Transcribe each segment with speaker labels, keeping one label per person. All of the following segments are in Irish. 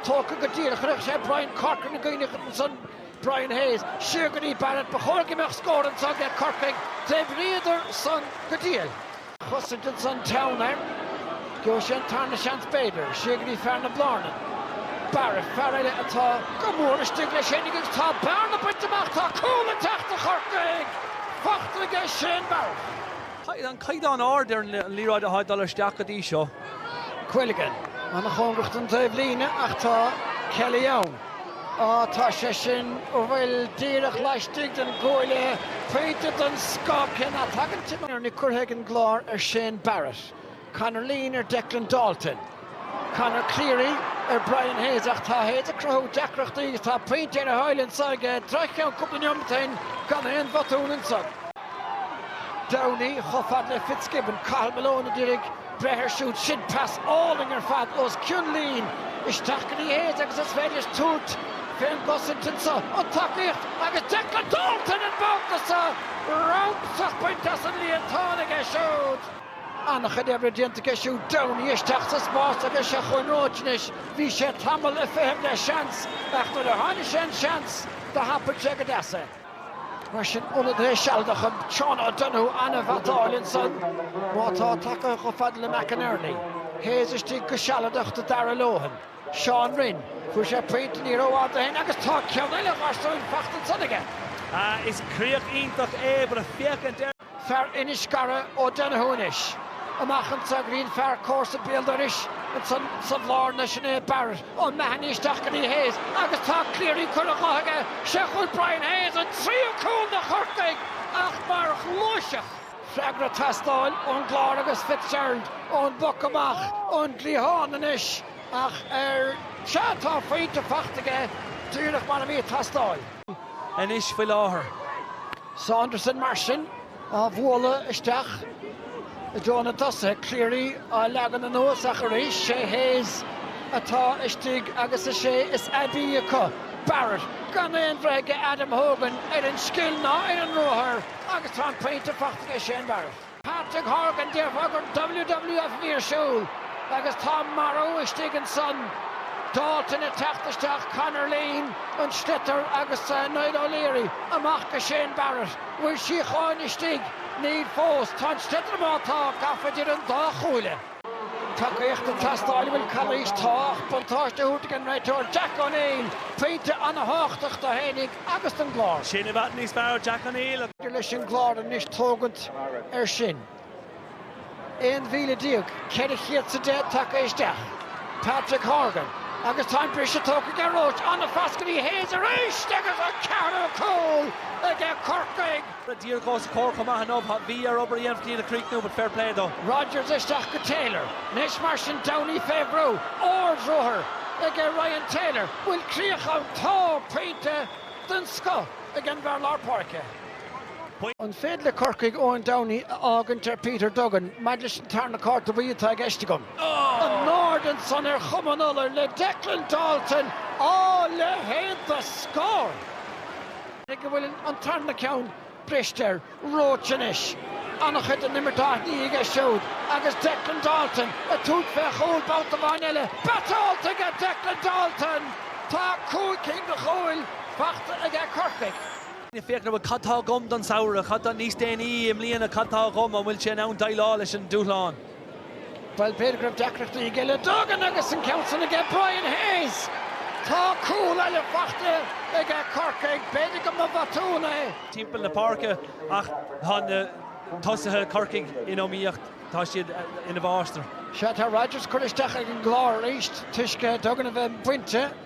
Speaker 1: tógtha go díreach. Chuirfeadh sé Brian Corcoran i gcuimhne dhuit ansan, Brian Hayes. Siar go dtí Barrett. Ba chóir go mbeadh scór anso aige Corcaigh. Dave Reidy ansan go diail. chosaint ansan teann air. Gheobhadh sé an tarna seans b'fhéidir. Siar go dtí fear na Blárnan. Barrett, fear eile atá go mór istigh leis fhéinig agus tá bearna bainte amach. Tá cúl ag teacht do Chorcaigh! Fachta aige Shane Barrett. Tá an caighdeán ard
Speaker 2: ar an liathróid atá ag dul isteach go dtí seo.
Speaker 1: Quilligan. Ana chóngrach don taobh líne ach tá Kelly ann. Tá sé sin, ó an bhfuil, díreach laistigh den gcuaille pointe den scoth Cian Galvin curtha ag an gClár ar Shane Barrett. Conor Leen ar Declan Dalton. Conor Cleary ar Brian Hayes ach tá Hayes ag cruthú deacrachtaí agus tá pointe ar a thoil anso aige, droch cheann cúpla neomat ó shin gan aon bhotún anso. Downey, chomh fad le Fitzgibbon. Cathal Malone ag iarraidh breith ar siúd. Sin pas álainn ar fad os cionn Leen. Isteach go dtí Hayes agus is féidir tabhairt fén gcosaint anseo. An tacaíocht agus Declan Dalton an babhta seo! Ramsach bainte as an líontán aige siúd. An-chuid oibre déanta aige siúd. Downey isteach sa spás agus seo chugainn Roche anois. Bhí sé tamall ag feitheamh le seans ach nuair a tháinig an seans do thapaigh sé go deas é. Mar sin, ionadaí sealadach, Seán O'Donoghue an-bhatáil ansan má tá tagaithe chomh fada le McInerney. Hayes istigh go sealadach do Dharragh Lohan. Seán Rynne, fuair sé pointe ní rófhada ó shin agus tá ceann eile a gharsúin fachta ansan aige. Is
Speaker 2: críoch iontach é, b'fhiú féachaint air. fear Inis
Speaker 1: Cara O Donoghue anois. Amach anso go dtí an fear comharsa béal dorais ansan sa Bhlárna, sin é Barrett O Mahony isteach go dtí Hayes agus tá Cleary curtha dhe aige. Seo chugaibh Brian Hayes an tríú cúl do Chorcaigh a leithéid mar ghluaiseacht. Freagra ag teastáil ón gClár agus Fitzgerald ón bpoc amach ón gcliathán anois ach ó, sea tá an phointe fachta aige díreach mar a bhí ag teastáil.
Speaker 2: anois faoi láthair.
Speaker 1: Saunderson mar sin á bhualadh isteach i dtreo na tosaithe, Cleary á leagan anuas ach arís sé Hayes atá istigh agus is é is aibí acu, Barrett, gan aon bhreith aige Adam Hogan ar an scil ná ar an ruathar agus tá an pointe fachta aige Shane Barrett. Patrick Horgan, Déarfá gur WWF a bhí ar siúl agus tá marú istigh ansan, Dalton ag teacht isteach, Conor Leen, an sliotar agus Niall O'Leary amach go Shane Barrett. Bhfuil síocháin istigh? Níl fós. Tá an sliotar má tá, gafa idir an dá chuaille. Tacaíocht ag teastáil an bhfuil calaois? Tá ach buntáiste á thabhairt ag an réiteoir Jack O'Neill, pointe an-tábhachtach dó fhéinig agus don gClár. Sin i bhfad níos fearr
Speaker 2: Jack O'Neill. Leis an gClár
Speaker 1: anois tógaint ar sin. 11,410 tagtha isteach. Patrick Horgan, agus tá an briseadh tógtha aige Roche, an-phas go dtí Hayes arís agus an ceathrú cúl aige Corcaigh. díreach os a
Speaker 2: comhair chomh maith inniu. Bhí air obair a dhéanamh chun iad a chríochnú but fair play dó. Rodgers isteach
Speaker 1: go Taylor. Anois mar sin Downey fé bhrú. Ard-ruathar aige Ryan Taylor. Bhfuil críoch ann? Tá! Pointe den scoth ag an bhfear lár páirce. An féidir le Corcaigh Eoin Downey a fhágaint ar Peter Duggan? Maidir leis an tarna cárta bhuí atá i gceist agam. In airde ansan ar chuma an iolair le Declan Dalton! Á! Leithéid de scór! go bhfuil an tarna ceann briste ar Roche anois. An-chuid den imirt á shní aige siúd agus Declan Dalton ag tabhairt fé chúl babhta amháin eile. Batáilte aige Declan Dalton! Tá cúig cinn de chúil faighte aige Corcaigh. Ag féachaint an bhfuil
Speaker 2: cad tá agam don samhradh, cad tá níos déanaí i mbliana, cad tá agam, an bhfuil sé in ann deighleáil leis an dúshlán?
Speaker 1: Bhuel, b'fhéidir go raibh deacrachtaí aige le Duggan agus an ceann san aige Brian Hayes! Tá cúl eile faighte aige Corcaigh, b'fhéidir go mba bhotún é. timpeall na
Speaker 2: páirce ach tá na tosaithe Corcaigh in iomaíocht, tá siad ina mháistir. Sea, tá Rodgers
Speaker 1: curtha isteach ag an gClár arís toisc Duggan a bheith bainte.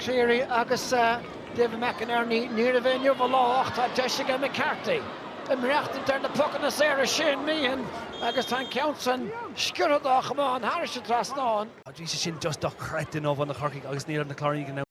Speaker 1: Cleary agus David McInerney. Níorbh é inniu a lá ach tá deis aige McCarthy ag maireachtaint ar na pocanna saora Shane Meehan agus tá an ceann san sciorrtha dá
Speaker 2: chamán
Speaker 1: thairis
Speaker 2: an dtrasnán. Tá sé
Speaker 1: sin
Speaker 2: just dochreidte in
Speaker 1: iomhá
Speaker 2: na Corcaigh agus ní raibh
Speaker 1: na
Speaker 2: Cláirínigh in ann.